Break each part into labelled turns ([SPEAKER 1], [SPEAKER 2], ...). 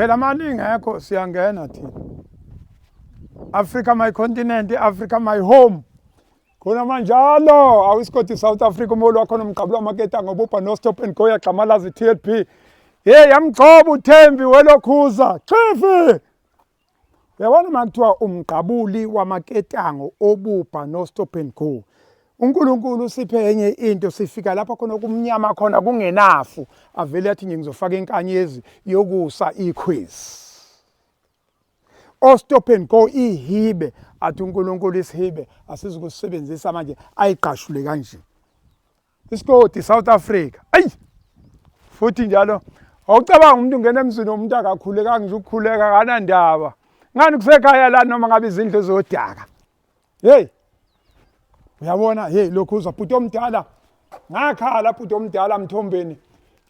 [SPEAKER 1] Phela mali ingekho siyangena thina. Africa my continent, Africa my home. Khona manjalo awusikoti South Africa umholi wakho nomgqabula amaketa ngobubha no stop and go yagxamalazi TLP. Hey yamgcoba uThembi welokhuza. Chifi. Yabona makuthiwa umgqabuli wamaketango obubha no stop and go. uNkulunkulu usiphe enye into sifika lapha khona kumnyama khona kungenafu avele athi nje ngizofaka inkanyezi yokusa ikhwizi ostop and go ihibe athi uNkulunkulu isihibe asizukusebenzisa manje ayigqashule kanje isikoti South Africa ayi futhi njalo awucabanga umuntu ungena emzini womuntu akakhulekanga nje ukukhuleka kanandaba ngani kusekhaya la noma ngabe izindlu zodaka Hey. Uyabona hey lokhu uzwa bhuti omdala. Ngakhala bhuti omdala mthombeni.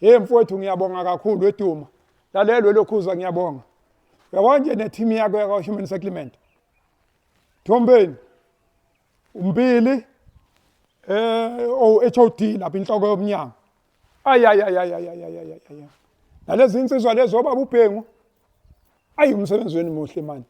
[SPEAKER 1] Hey mfowethu ngiyabonga kakhulu weduma. Lalelwe lokhu uzwa ngiyabonga. Uyabona nje ne team yakho yakwa Human Settlement. Thombeni. Umbili eh o HOD lapha inhloko yomnyango. Ayayayayayayayayaya. Nalezi insizwa lezo baba ubhengu ayi umsebenzi wenu muhle manje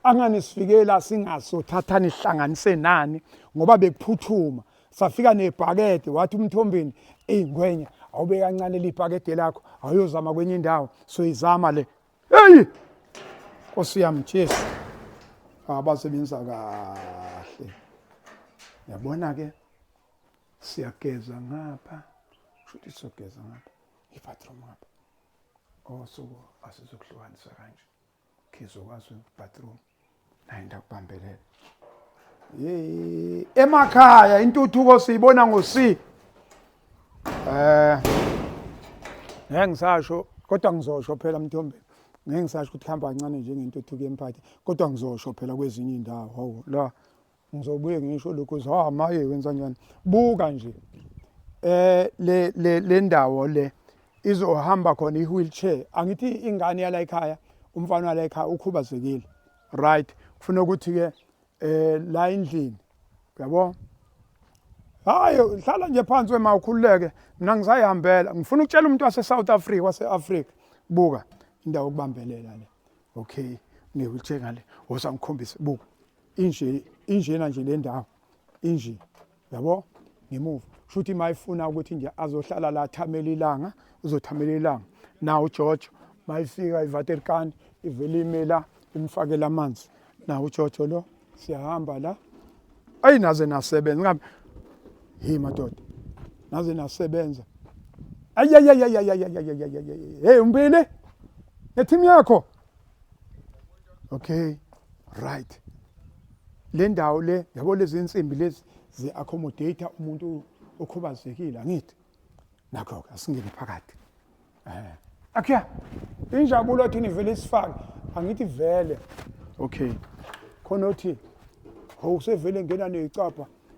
[SPEAKER 1] angani sifikela singaso thathani ihlanganise nani ngoba bekuphuthuma safika nebhakede wathi umthombeni eyi ngwenya awube kancane libhakede lakho awuyozama kwenye indawo soyizama le eyi nkosi yami jesu abasebenza kahle yabona-ke siyageza ngapha shuthi siyogeza ngapha ibathroom ngapha osuku asizokuhlukanisa kanje khizokwazi bathroom naye ndakubambelela emakhaya intuthuko siyibona ngo-c um eh, ngeke ngisasho kodwa ngizosho phela mthombeni ngeke ngisasho ukuthi kuhamba kancane njengentuthuko yemphathi kodwa ngizosho phela kwezinye iy'ndawo hawu la Ngizobuye ngisho lokho ukuthi ha maye wenza njani. Buka nje. Eh le le le ndawo le izohamba khona i-wheelchair. Angithi ingane yala ekhaya, umfana wala ekhaya ukhubazekile. Right. Kufuna ukuthi ke eh la endlini. Uyabo? Hayi hlala nje phansi wema ukhululeke. Mina ngisayihambela. Ngifuna ukutshela umuntu wase South Africa, wase Africa. Buka indawo okubambelela le. Okay. Ne-wheelchair ngale. Wosa ngikhombise. Buka. inje injena nje le ndawo inje yabo ngemuva shuthi mayifuna ukuthi nje azohlala la thamela ilanga uzothamela ilanga nawo ujojo mayifika ivaterkani ivele imela imfakela amanzi nawo ujojo lo siyahamba la ayi naze nasebenza ngabe hey madoda naze nasebenza ayayayayayayayayayayay hey umbile ngethimu yakho okay right le ndawo le yabo lezi insimbi lezi zi-accommodate umuntu okhubazekile angithi nakho-ke asingene phakathi um eh. akya injabulo thini vele isifake angithi vele okay khona othi ho usevele ngena neyicapha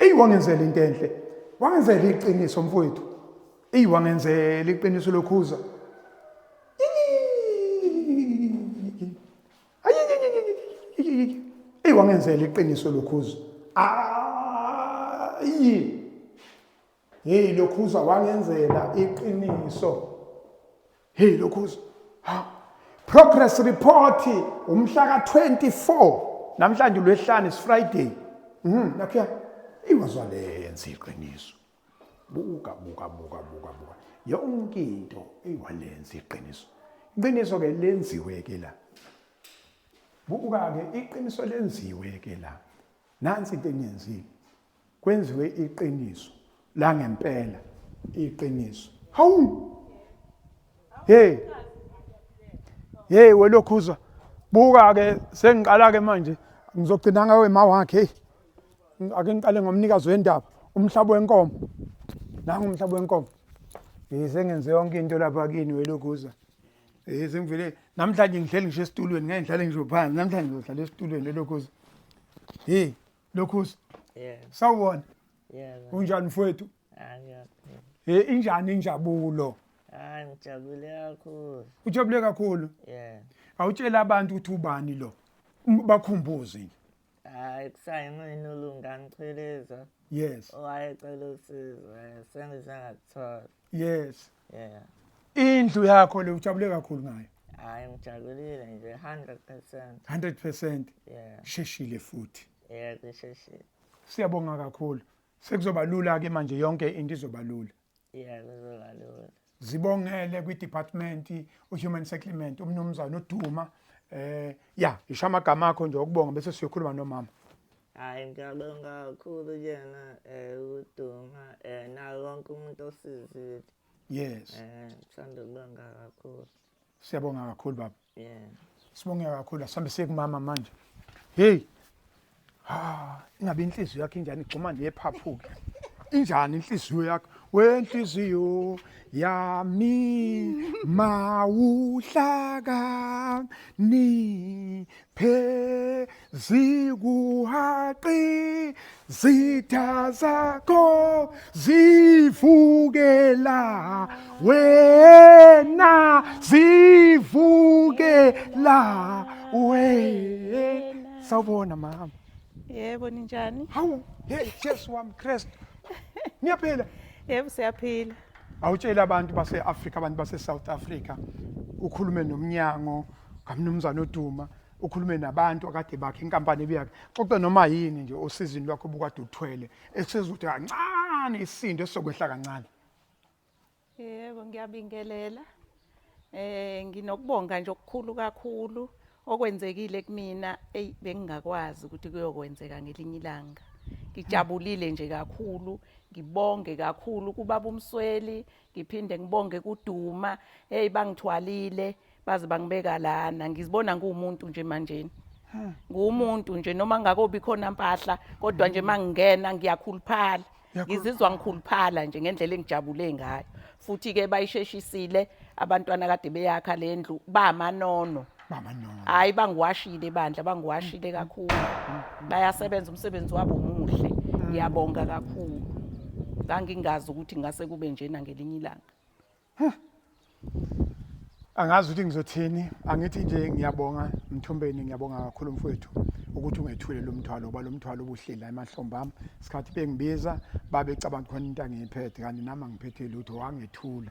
[SPEAKER 1] eyi wangenzela into enhle wangenzela iqiniso mfowethu eyi wangenzela iqiniso lokhuza eyi wangenzela iqiniso lokhuza ayi Hey lokhuza wangenzela iqiniso. Hey lokhuza. Ha. Progress report umhla ka24 namhlanje lwehlane is Friday. Mhm nakhiya iwazwa lenza iqiniso. Buka buka buka buka buka. Yonke into eyiwalenza iqiniso. Iqiniso ke lenziwe ke la. Buka ke iqiniso lenziwe ke la. Nansi into eniyenzile. kwenziwe iqiniso la ngempela iqiniso hawu hey hey welokhuzwa buka ke sengiqala ke manje ngizogcina ngawe ma wakhe hey ake ngiqale ngomnikazi wendaba umhlaba wenkomo nangu umhlaba wenkomo hey sengenze yonke into lapha kini welokhuzwa hey sengivele namhlanje ngihleli ngisho esitulweni ngeke ngihlale ngisho phansi namhlanje ngizohlala esitulweni welokhuzwa hey lokhusi Yeah. sawubona Yeah. man. unjani mfowethu Ah, yeah. he injani injabulo Ah, ngijabule
[SPEAKER 2] kakhulu. ujabule kakhulu
[SPEAKER 1] Yeah. awutshela abantu ukuthi ubani lo M- bakhumbuze nje Hayi kusayimina
[SPEAKER 2] ulunga ngicheleza yes
[SPEAKER 1] owayecela
[SPEAKER 2] usizo eh, sengize ngathola. yes
[SPEAKER 1] Yeah. Indlu yakho le ujabule kakhulu ngayo. Hayi ngijabulile
[SPEAKER 2] nje 100%. 100%. Yeah.
[SPEAKER 1] Sheshile futhi. Yeah, ngisheshile.
[SPEAKER 2] Siyabonga
[SPEAKER 1] kakhulu. Sekuzoba lula ke manje yonke into izoba lula. Yeah, kuzoba
[SPEAKER 2] lula. Zibongele kwi
[SPEAKER 1] department u human settlement umnumzana uDuma eh ya isha amagama akho nje okubonga bese siyokhuluma nomama. Hhayi ngiyabonga
[SPEAKER 2] kakhulu kuyena um uduma um naye wonke umuntu osizile yes um
[SPEAKER 1] sithanda
[SPEAKER 2] ukubonga kakhulu siyabonga
[SPEAKER 1] kakhulu baba yeah sibonge kakhulu asihambe siye kumama manje heyi ha ingabe inhliziyo yakho injani igxuma nephaphuke injani inhliziyo yakho wenhliziyo yami mawuhlaka ni phe zikuhaqi zitha zakho zivukela wena zivukela wena sawubona mama yebo
[SPEAKER 3] ninjani hawu hey
[SPEAKER 1] jesu wami kristu niyaphila yebo
[SPEAKER 3] siyaphila awutshela abantu
[SPEAKER 1] base-afrika abantu base-south africa ukhulume nomnyango kamnumzane oduma ukhulume nabantu akade bakhe inkampani ebiyakhe xoxa noma yini nje osizini lwakho obukade uthwele esizothi kancane isindo esizokwehla kancane
[SPEAKER 3] yebo ngiyabingelela eh nginokubonga nje okukhulu kakhulu okwenzekile kumina ey bengingakwazi ukuthi kuyokwenzeka ngelinye ilanga ngijabulile nje kakhulu ngibonge kakhulu kubaba umsweli ngiphinde ngibonge kuduma hey bangithwalile baze bangibeka lana ngizibona nguwumuntu nje manjeni nguwumuntu nje noma ngakobi khona mpahla kodwa nje mangingena ngiyakhuluphala ngizizwa ngikhuluphala nje ngendlela engijabule ngayo futhi ke bayisheshisile abantwana kade beyakha lendlu bamanono mama no hayi bangiwashile bandla bangiwashile kakhulu bayasebenza umsebenzi wabo muhle ngiyabonga kakhulu ngangingazi ukuthi ngase kube njena ngelinye ilanga
[SPEAKER 1] angazi ukuthi ngizothini angithi nje ngiyabonga mthombeni ngiyabonga kakhulu mfowethu ukuthi ungethule lo mthwalo ngoba lo mthwalo ubuhleli la emahlombe ami isikhathi bengibiza babecabanga khona into angiyiphethe kanti nami angiphethe lutho wangethula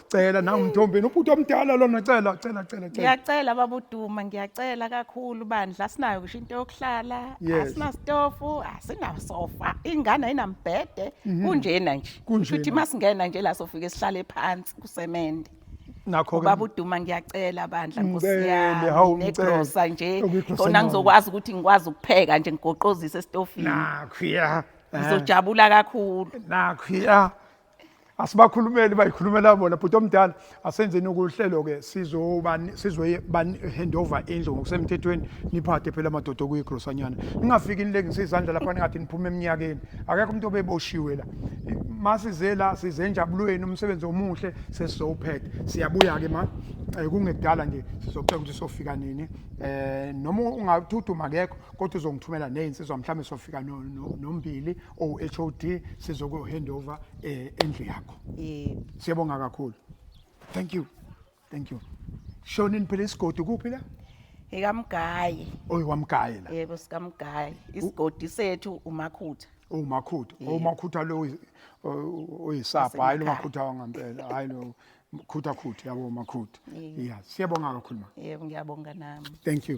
[SPEAKER 1] Cela nangu mthombeni ubhuti omdala lona cela cela cela cela. Ngiyacela
[SPEAKER 3] baba uDuma ngiyacela kakhulu bandla asinayo kusho into yokuhlala Yes. asina stofu asina sofa ingane ayinambhede Mhm. kunjena nje Kunjena. Kusho ukuthi masingena nje la sofike sihlale phansi kusemende Nakho ke. ubaba
[SPEAKER 1] uDuma ngiyacela
[SPEAKER 3] bandla nkosi Ngicele, yami hawu, ngicele. negrosa nje Okuyigrosa khona noma. ngizokwazi ukuthi ngikwazi ukupheka nje ngigoqozise estofini Nakho ya. Eh,
[SPEAKER 1] ngizojabula
[SPEAKER 3] kakhulu Nakho ya.
[SPEAKER 1] asibakhulumeli bayikhulumela bona bhuti omdala asenzeni ukuhlelo-ke sizoyihandover indlu ngokusemthethweni niphathe phela amadoda okuyigrosanyana ningafiki nilengise izandla lapha ningathi niphume eminyakeni akekho umuntu obeboshiwe la masize la size enjabulweni umsebenzi omuhle sesizowuphetha siyabuya-ke ma eh, kungekudala nje sizobheka ukuthi sofika nini um noma ungathuthu makekho kodwa uzongithumela ney'nsizwa mhlawumbe sofika nombili OHOD sizoku hand over eh, endlu yakho. Yebo. Siyabonga kakhulu. Thank you. Thank you. Shonini phela isigodi kuphi la?
[SPEAKER 3] Ekamgaye. Oyi wamgaye
[SPEAKER 1] la. Yebo sikamgaye.
[SPEAKER 3] Isigodi sethu umakhutha. Umakhutha. Yebo.
[SPEAKER 1] Umakhutha lo oyi- o- oyisapha hayi lo Wasekhaya. makhutha wangampela. Hayi lo khutha khutha yabo makhutha. Yebo. Yeah. Siyabonga kakhulu ma.
[SPEAKER 3] Yebo
[SPEAKER 1] ngiyabonga nami.
[SPEAKER 3] Thank you.